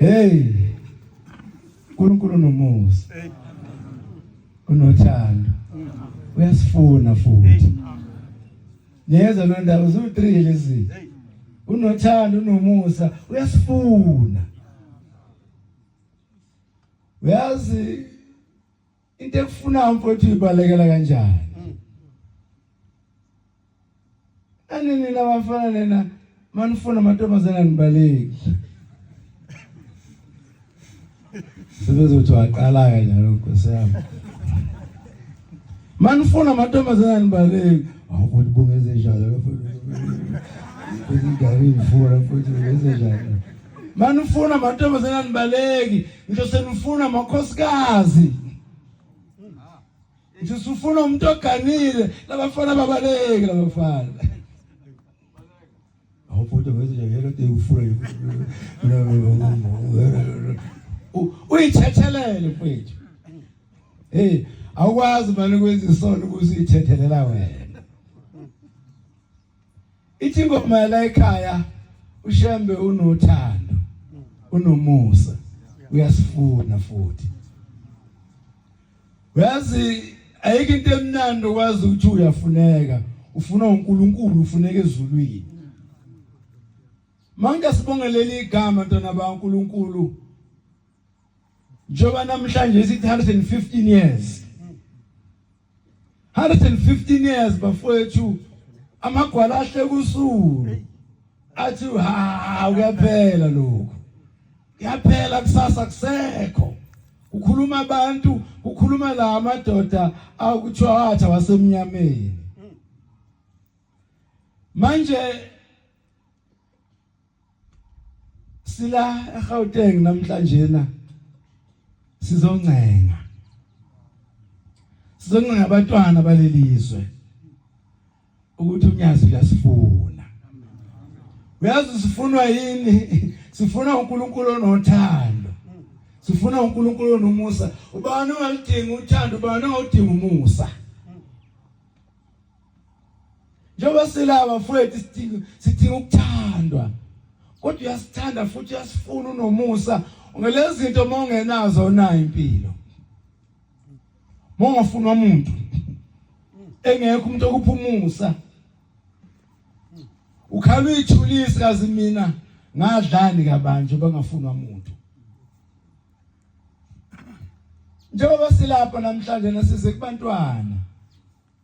Hey. uNkulunkulu nomusa. Unothando. Uyasifuna futhi. Yeza lo ndaba uzu 3 lezi. Unothando unomusa uyasifuna. Uyazi into ekufunayo mfowethu ibalekela kanjani mm. anini labafana lena manifuna amantombazane anibaleki sebezothi waqala kanjalo nkosi yami manifuna amantombazane anibaleki awukuthi bungeze njalo futhi ngari mfuna futhi bungeze njalo manifuna amantombazane anibaleki Ngisho senifuna amakhosikazi. Ngisho sifuna umuntu oganile labafana babaleke labafana. Awufuthi ngithi nje yelo te ufuna nje. Uyithethelele mfethu. Hey, awukwazi manje ukwenza isono ukuthi uyithethelela wena. Ithi ingoma yala ekhaya uShembe unothando, unomusa, uyasifuna futhi. Uyazi ayike into emnandi okwazi ukuthi uyafuneka, ufuna uNkulunkulu, ufuneka ezulwini. Manje sibongelele igama ntwana baNkulunkulu. Njoba namhlanje sithi 115 years. 115 years bafowethu amagwala ahle kusulu athi ha uyaphela lokho yaphela kusasa kusekho ukhuluma abantu ukhuluma la madoda akuthiwa atha wasemnyameni manje Sila eGauteng namhlanje na sizoncenga. Sizoncenga abatwana balelizwe ukuthi unyazi uyasifuna. Uyazi sifunwa yini? Sifuna uNkulunkulu onothando. Sifuna uNkulunkulu onomusa. Ubani ongalidinga uthando, ubani ongalidinga umusa? Njengoba silaba mfowethu sidinga sidinga ukuthandwa. Kodwa uyasithanda futhi uyasifuna unomusa. Ngelezi zinto uma ungenazo nayo impilo. Mongafuna umuntu engekho umuntu okuphumusa. Ukhala uyithulisa kazi mina ngadlani kabanje bangafuna umuntu. Njengoba silapha namhlanje nasize kubantwana.